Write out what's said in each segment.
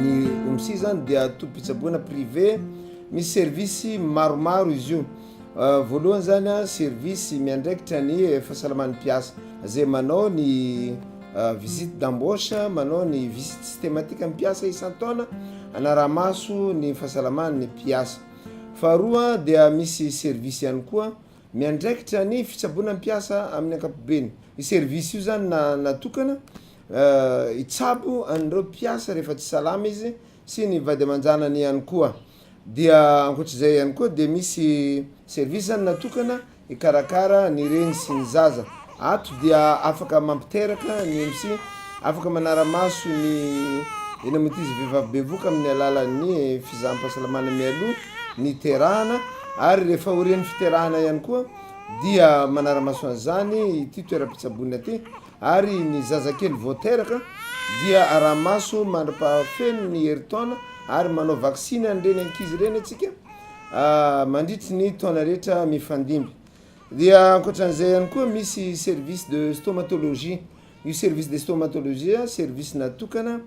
Ny OMSI zany dia tobim-pitsaboana privé, misy service maromaro izy io. Voalohany zany a, service miandraikitra ny fahasalaman'ny mpiasa, zay manao ny visite d'embauche, manao ny visite systematique amin'ny mpiasa isan-taona, hanara-maso ny fahasalaman'ny mpiasa. Faharoa dia misy service ihany koa. Miandraikitra ny fitsaboana ny mpiasa amin'ny ankapobeny. Io service io zany na natokana hitsabo an'ireo mpiasa rehefa tsy salama izy sy ny vady aman-janany ihany koa. Dia ankoatr'izay ihany koa dia misy service zany natokana hikarakara ny reny sy ny zaza. Ato dia afaka mampiteraka ny MC, afaka manara-maso ny eny amin'ny ankizy vehivavy bevoka amin'ny alalan'ny fizaham-pahasalamana mialoha ny hiterahana ary rehefa aorian'ny fiterahana ihany koa dia manara-maso an'izany ity toeram-pitsaboana ity ary ny zazakely vao teraka dia araha-maso mandra-pahafeno ny herintaona ary manao vaksiny an'ireny ankizy ireny antsika mandritry ny taona rehetra mifandimby. Dia ankoatran'izay ihany koa misy service de stomatologie, io service de stomatologie a service natokana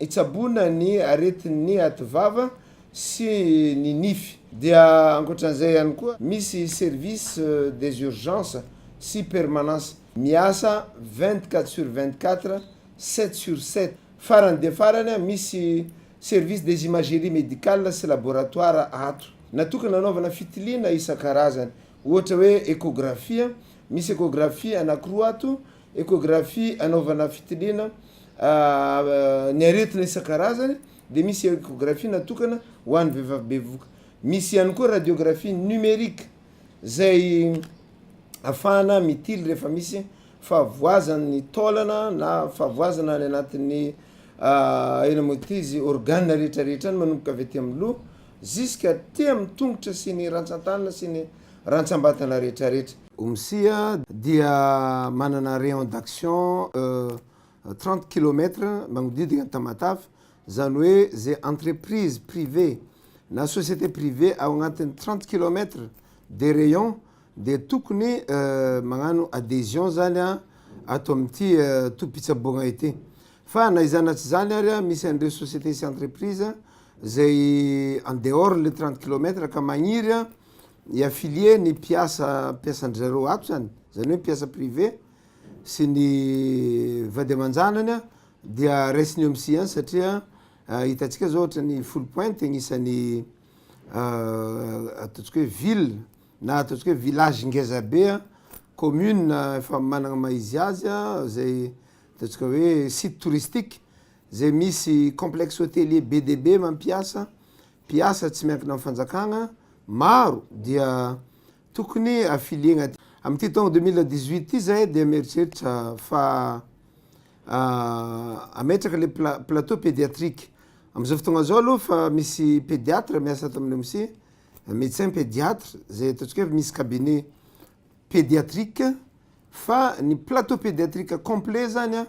hitsaboana ny aretin'ny ativava sy ny nify. Dia ankoatran'izay ihany koa misy service des urgences sy permanence miasa vingt quatre sur vingt quatre, sept sur sept, farany dia farany a misy Service des imageries médicales sy laboratoires ato natokana hanaovana fitiliana isan-karazany, ohatra hoe échographie, misy échographie anankiroa ato, échographie hanaovana fitiliana ny aretina isan-karazany dia misy échographie natokana ho an'ny vehivavy bevoka. Misy ihany koa radiographie numérique Izay afahana mitily rehefa misy fahavoazan'ny taolana na fahavoazana any anatin'ny eny amin'ny izy organe rehetra rehetra any manomboka avy aty amin'ny loha jusque aty amin'ny tongotra sy ny rantsan-tanana sy ny rantsam-batana rehetra rehetra. Omsia dia manana rayon d'action trente kilomètre magnodidina an'i Tamatave, izany hoe izay entreprise privée na société privée ao anatin'ny trente kilomètre de rayon dia tokony magnano adhesion zany an ato amin'ity tobim-pitsaboana ity fa na izany na tsy izany ary an misy an'ireo société sy entreprise zay en dehors le trente kilomètre ka magniry an i affilier ny mpiasa mpiasan-dry zareo ato zany zany hoe mpiasa privée sy ny vady aman-janany an dia raisiny eo amin'ny science satria Hitantsika zao ohatra ny Foulles Pointes agnisan'ny ataontsika hoe ville na ataontsika hoe village ngeza be a, commune efa managna maha izy azy a, zay ataontsika hoe site touristique zay misy complexe hotelier be dia be mampiasa mpiasa tsy miankina amin'ny fanjakagna maro dia tokony affilier agnaty. Am'ty taogno deux mille dix-huit ty zahay dia mieritreritra fa Ametraka le plateau pediatrique. Amzao fotoagna zao aloha fa misy pediatre miasa ato amin'ny OMSI, medecin pediatre, zay ataontsika hoe misy cabinet pediatrique, fa ny plateau pediatrique complet zany an,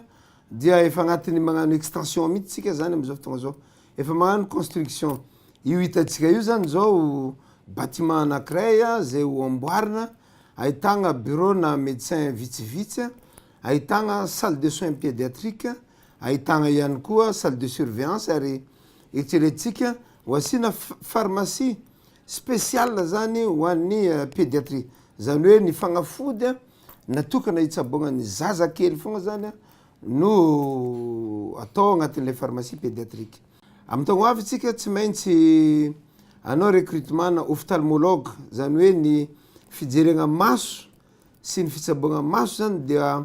dia efa agnatin'ny magnano extension mitsy tsika zany amzao fotoagna zao. Efa magnano construction. Io hitantsika io zany zao bâtiment anakiray zay ho amboarina, ahitagna bureau-na medecin vitsivitsy an. Ahitana salle de soins pédiatrique, ahitana ihany koa salle de surveillance ary eritreretintsika ho asiana pharmacie spéciale zany ho an'ny pédiatrie. Zany hoe ny fagnafody natokana hitsaboana ny zaza kely fogna zany no atao agnatin'ilay pharmacie pédiatrique. Amin'ny taogno avy tsika tsy maintsy anao recrutement-na ophtalmologue zany hoe ny fijerena maso. sy ny fitsaboana maso zany dia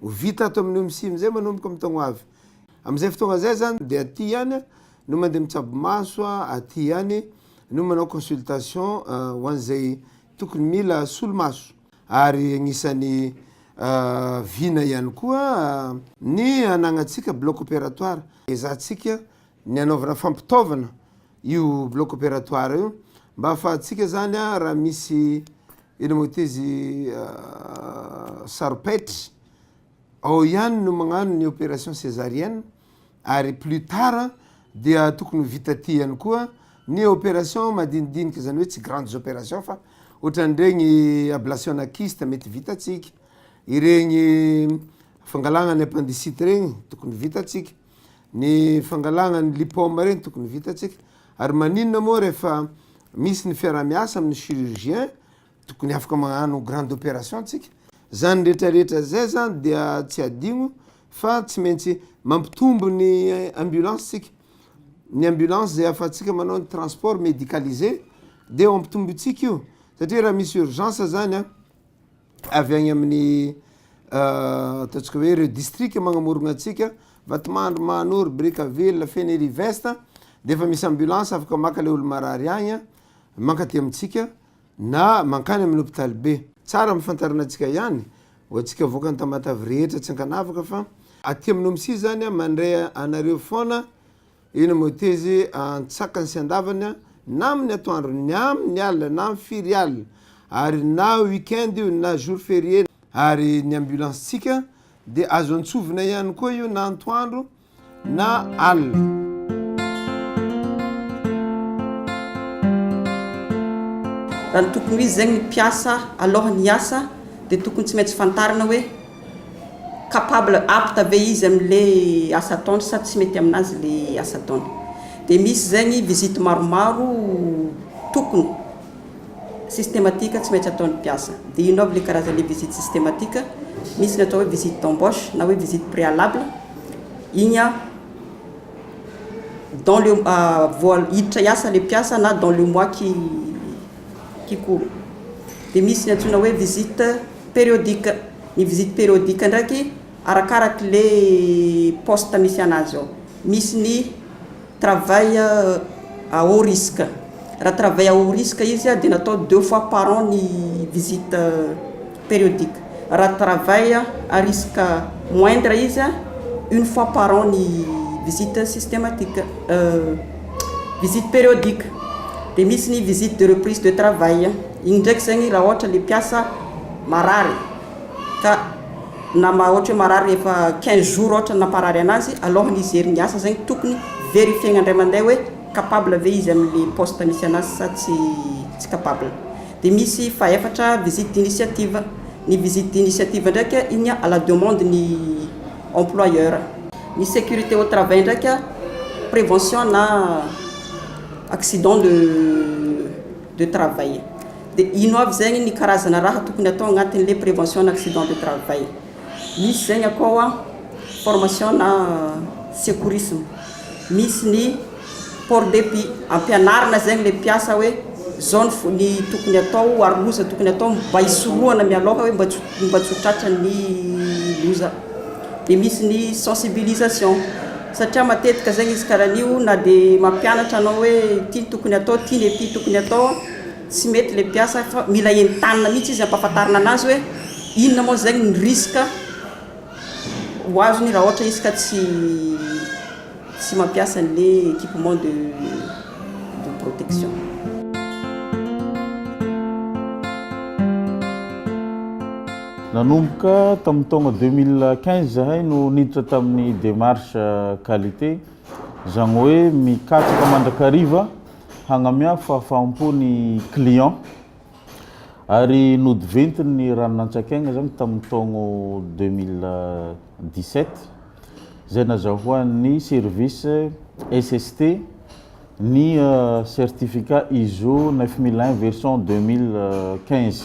ho vita ato amin'ny OMSI amizay manomboka amin'ny taogno avy. Amizay fotoagna zay zany dia aty ihany no mandeha mitsabo maso, aty ihany no manao consultation ho an'izay tokony mila solomaso ary agnisan'ny vina ihany koa ny hanagnatsika bloc opératoire, ezahantsika ny anaovana fampitaovana io bloc opératoire io mba afahantsika zany a raha misy ino moa ty izy saro-paitry ao ihany no magnano ny opération césarienne ary plus tard dia tokony ho vita aty ihany koa ny opération madinidinika zany hoe tsy grandes opérations fa ohatran'iregny ablation-na kyste mety vitantsika, iregny fangalagna ny appendicite regny tokony vitantsika. Ny fangalana ny lipoma ireny tokony vitantsika ary maninona moa rehefa misy ny fiarahamiasa amin'ny chirurgien tokony afaka magnano grande operation tsika. Zany rehetra rehetra zay zany dia tsy adigno fa tsy maintsy mampitombo ny ambulance tsika. Ny ambulance zay afatsika manao ny transport medicalise dia mampitombo antsika io satria raha misy urgence zany an. avy agny amin'ny ataontsika hoe ireo distrika magnamorogna antsika, Vatomandry, Mahanoro, Brickaville, Fenerive-Est, de efa misy ambulance afaka maka le olo marary agny a, mankaty amintsika na mankany amin'ny hopitaly be. Tsara ampafantarina antsika ihany ho antsika avoakan'i Tamatave rehetra tsy ankanavaka fa aty amin'Omisy zany a mandray anareo foana Eny moa teze antsakany sy andavany a, na amin'ny atoandro, ny amin'ny alina, na amin'ny firy alina, ary na week-end io na jour ferie, ary ny ambulance-tsika dia azo antsovina ihany koa io na antoandro na alina. Raha ny tokony ho izy zegny ny mpiasa alohan'ny hiasa dia tokony tsy maintsy fantarina hoe. capable, apte ve izy amin'le asa ataony sa tsy mety aminazy le asa ataony. Dia misy izay ny visite maromaro tokony, systematique, tsy maintsy ataon'ny mpiasa. Dia inona avy le karazan'le visite systematique? Misy ny atao hoe visite d'embauche na hoe visite préalable, iny an, dans le, vao hiditra hiasa le mpiasa na dans le mois qui qui court. Dia misy ny antsoina hoe visite Périodique, ny visite périodique ndraiky arakaraky le poste misy anazy ao, misy ny travail à haut risque, raha travail à haut risque izy dia natao deux fois par an ny visite périodique, raha travail à risque moindre izy une fois par an ny visite systématique visite périodique, dia misy ny visite de reprise de travail. Iny ndraiky zegny raha ohatra le mpiasa marary ka na ma- ohatra hoe marary efa quinze jours ohatra ny namparary anazy, alohan'ny hijery ny asa zegny tokony verifier-na indray mandeha hoe capable ve izy amin'ny poste misy anazy sa tsy tsy capable. De misy fahefatra visite d'initiative, ny visite d'initiative ndraiky a igny a à la demande ny employeur. Ny sécurité au travail ndraiky a prévention na accident de. de travail. De ino avy zegny ny karazana raha tokony atao agnatin'le prévention na accident de travail? Misy zegny akao an, formation na secourisme, misy ny port de pit, ampianarina zegny le mpiasa hoe zao ny fo- ny tokony atao ho ary loza tokony atao mba hisorohana mialoha hoe mba tsy ho mba tsy ho tratran'ny loza. De misy ny sensibilisation. Satria matetika zegny izy karaha an'io na de mampianatra anao hoe ity no tokony atao ty le ty tokony atao tsy mety le mpiasa fa mila entanina mihitsy izy ampahafantarina anazy hoe inona moa zegny ny risque ho azony raha ohatra izy ka tsy tsy mampiasa anle equipement de de protection. Nanomboka tamin'ny taona deux mille quinze izahay no niditra tamin'ny démarche qualité, izany hoe mikatsaka mandrakariva hagnamea fahafaham-po ny client, ary nodiventin' ny ranon'antsak'aigna izany tamin'ny taogno deux mille dix sept, izay nazahoan'ny service SST ny certificat ISO neuf mille un version deux mille quinze.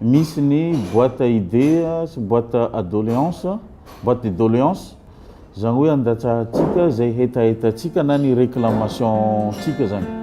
Misy ny boite à idées sy boite à doléances, boite de doléances, izany hoe andatsahantsika izay hetahetantsika na ny réclamation-ntsika izany.